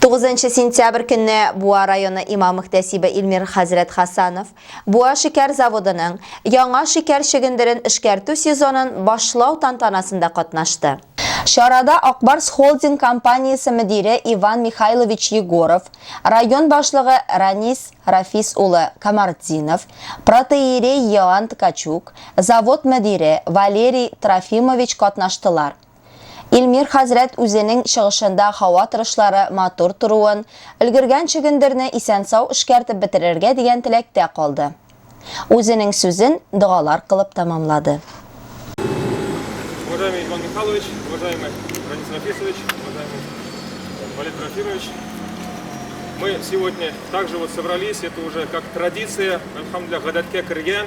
9 сентябрь көнне Буа районы имам мөхтәсибе Илмир хәзрәт Хасанов Буа шикәр заводының яңа шикәр чөгендерен эшкәртү сезонын башлау тантанасында катнашты. Чарада Акбарс холдинг компаниясе мөдире Иван Михайлович Егоров, район башлыгы Ранис Рафис улы Камартдинов, протоиерей Иоанн Ткачук, завод мөдире Валерий Трофимович катнаштылар. Илмир хәзрәт үзенең чыгышында һава торышлары матур торуын, өлгергән чөгендерне исән-сау эшкәртеп бетерергә дигән теләктә калды. Үзенең сүзен догалар кылып тәмамлады. Уважаемый Иван Михайлович, уважаемый Ранис Рафисович, уважаемый Валерий Трофимович, мы сегодня также вот собрались, это уже как традиция, альхамдулиллах, гадәткә кергән,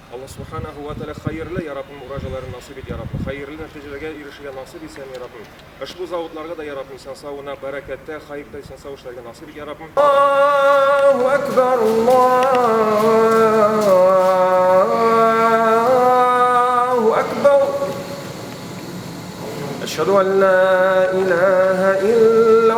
Алла Субханаһу вә Тәгалә хәерле, я Раббым, уражаларын насыйп ит, я Раббым, хәерле нәтиҗәләргә ирешергә насыйп итсен, я Раббым, ошбу заводларга да, я Раббым, исән сау гына, бәрәкәттә, хаирдә исән сау эшләргә насыйп ит, я Раббым. Аллаһу әкбәр, Аллаһу әкбәр. Әшһадү ан ла илаһа илла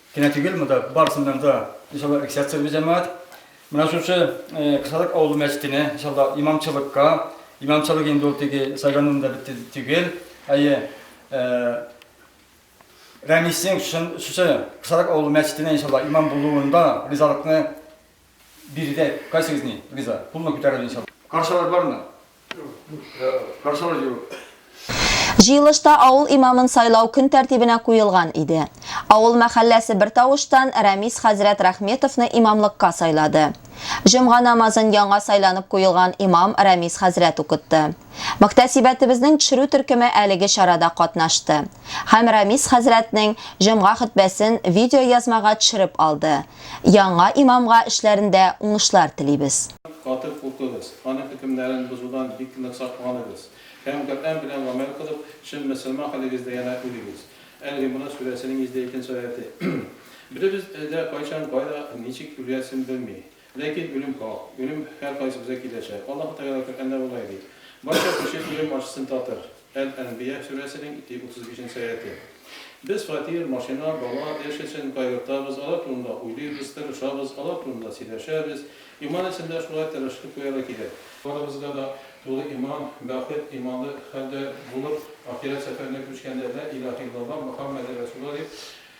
Генә түгел, монда барысыннан да иншалла эксерция бу җәмәгать. Менә шушы Кысалык авылы мәчетенә иншалла имамчылыкка, имамчылык инде ул теге сайлануында бетте түгел. Әйе. Рәмисең шушы Кысалык авылы мәчетенә иншалла имам булуында ризалыкны Биредә кайсыгызны риза? Кулны күтәрәле иншалла. Каршалар бармы? Каршалар юк. Җыелышта авыл имамын сайлау көн тәртибенә куелган иде. Авыл мәхәлләсе бертавыштан Рәмис хәзрәт Рәхметовны имамлыкка сайлады. Җомга намазын яңа сайланып куелган имам Рәмис хәзрәт укытты. Мөхтәсибәтебезнең төшерү төркеме әлеге чарада катнашты һәм Рәмис хәзрәтнең җомга хөтбәсен видеоязмага төшереп алды. Яңа имамга эшләрендә уңышлар телибез. Каты куркыгыз, аның хөкемнәрен бозудан бик нык сакланыгыз һәм Коръән белән гамәл кылып, чын мөселман хәлегездә янә үлегез. Әл-Гимран сүрәсенең 102 нче аяте. Беребез дә кайчан, кайда, ничек үләсен белми. Ләкин үлем хак, үлем һәркайсыбызга киләчәк. Аллаһы Тәгалә Коръәндә болай ди, Барча кеше үлем ачысын татыр. Әл-Әнбия сүрәсенең ити утыз бишенче аятэ. Без фатир, машина, бала, эш өчен кайгыртабыз, алар турында уйлыйбыз, тырышабыз, алар турында сөйләшәбез. Иман өчен дә шулай тырышлык куярга кирәк. Барыбызга да тулы иман, бәхет, иманлы хәлдә булып, ахирәт сәфәренә күчкәндә, Лә илаһә иллаллаһ, Мөхәммәде рәсулла дип,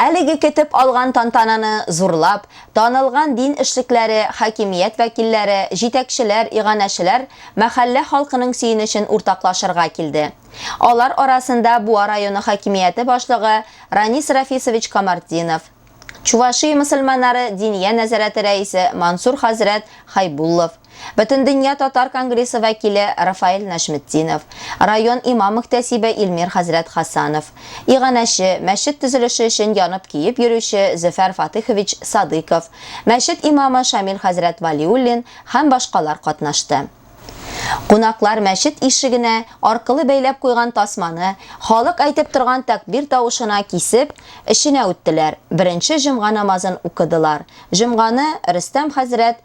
Әлеге көтеп алган тантананы зурлап, танылган дин эшлекләре, хакимият вәкилләре, җитәкчеләр, иганәчеләр, мәхәллә халкының сөенечен уртаклашырга килде. Алар арасында Буа районы хакимияте башлыгы Ранис Рафисович Камартдинов, Чувашия мөселманнары диния нәзарәте рәисе Мансур хәзрәт Хайбуллов, Бөтендөнья татар конгрессы вәкиле Рафаэль Нәжметдинов, район имам-мөхтәсибе Илмир хәзрәт Хасанов, иганәче, мәчет төзелеше өчен янып-көеп йөрүче Зөфәр Фатыйхович Садыйков, мәчет имамы Шамил хәзрәт Вәлиуллин һәм башкалар катнашты. Кунаклар мәчет ишегенә аркылы бәйләп куйган тасманы, халык әйтеп торган тәкбир тавышына кисеп, эченә үттеләр, беренче җомга намазын укыдылар, җомганы Рөстәм хәзрәт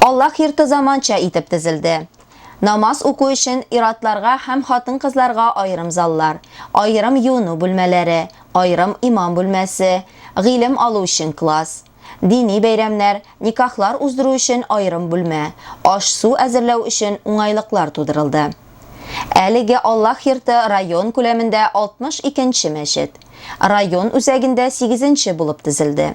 Аллаһ йорты заманча итеп төзелде. Намаз уку өчен ир-атларга һәм хатын-кызларга аерым заллар, аерым юыну бүлмәләре, аерым имам бүлмәсе, гыйлем алу өчен класс, дини бәйрәмнәр, никахлар уздыру өчен аерым бүлмә, аш-су әзерләү өчен уңайлыклар тудырылды. Әлеге Аллаһ йорты район күләмендә 62 нче мәчет, район үзәгендә сигезенче булып төзелде.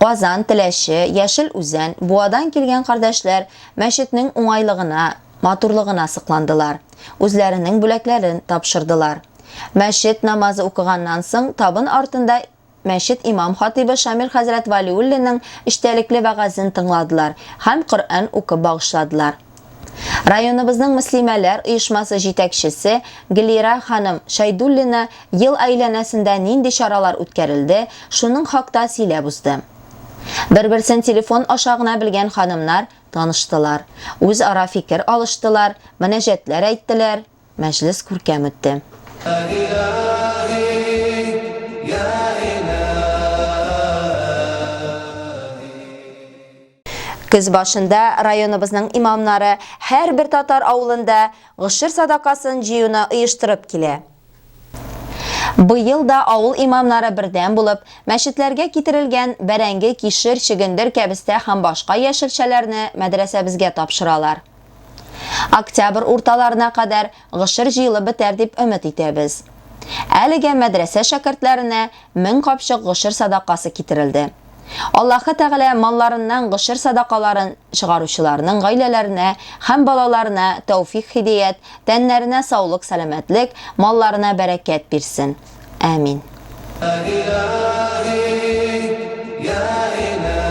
Казан, Теләче, Яшел Үзән, Буадан килгән кардәшләр мәчетнең уңайлыгына, матурлыгына сокландылар, үзләренең бүләкләрен тапшырдылар. Мәчет намазы укыганнан соң, табын артында мәчет имам-хатыйбы Шамил хәзрәт Вәлиуллинның эчтәлекле вәгазен тыңладылар һәм Коръән укып багышладылар. Районыбызның мөслимәләр оешмасы җитәкчесе Глира ханым Шәйдуллина ел әйләнәсендә нинди чаралар үткәрелде, шуның хакта сөйләп узды. Бер-берсен телефон аша гына белгән ханымнар таныштылар, үзара фикер алыштылар, мөнәҗәтләр әйттеләр, мәҗлес күркәм үтте. Көз башында районыбызның имамнары һәрбер татар авылында гошер садакасын җыюны оештырып килә. Быел да авыл имамнары бердәм булып, мәчетләргә китерелгән бәрәңге, кишер, чөгендер, кәбестә һәм башка яшелчәләрне мәдрәсәбезгә тапшыралар. Октябрь урталарына кадәр Гшер җыелып бетәр дип өмет итәбез. Әлегә мәдрәсә шәкертләренә мең капчык гшер садакасы китерелде. Аллаһы Тәгалә малларыннан гшер садакаларын чыгаручыларның гаиләләренә һәм балаларына тәүфикъ-һидеят, тәннәренә саулык-сәламәтлек, малларына бәрәкәт бирсен. Әмин. Йә Илаһи, Йә Илаһи.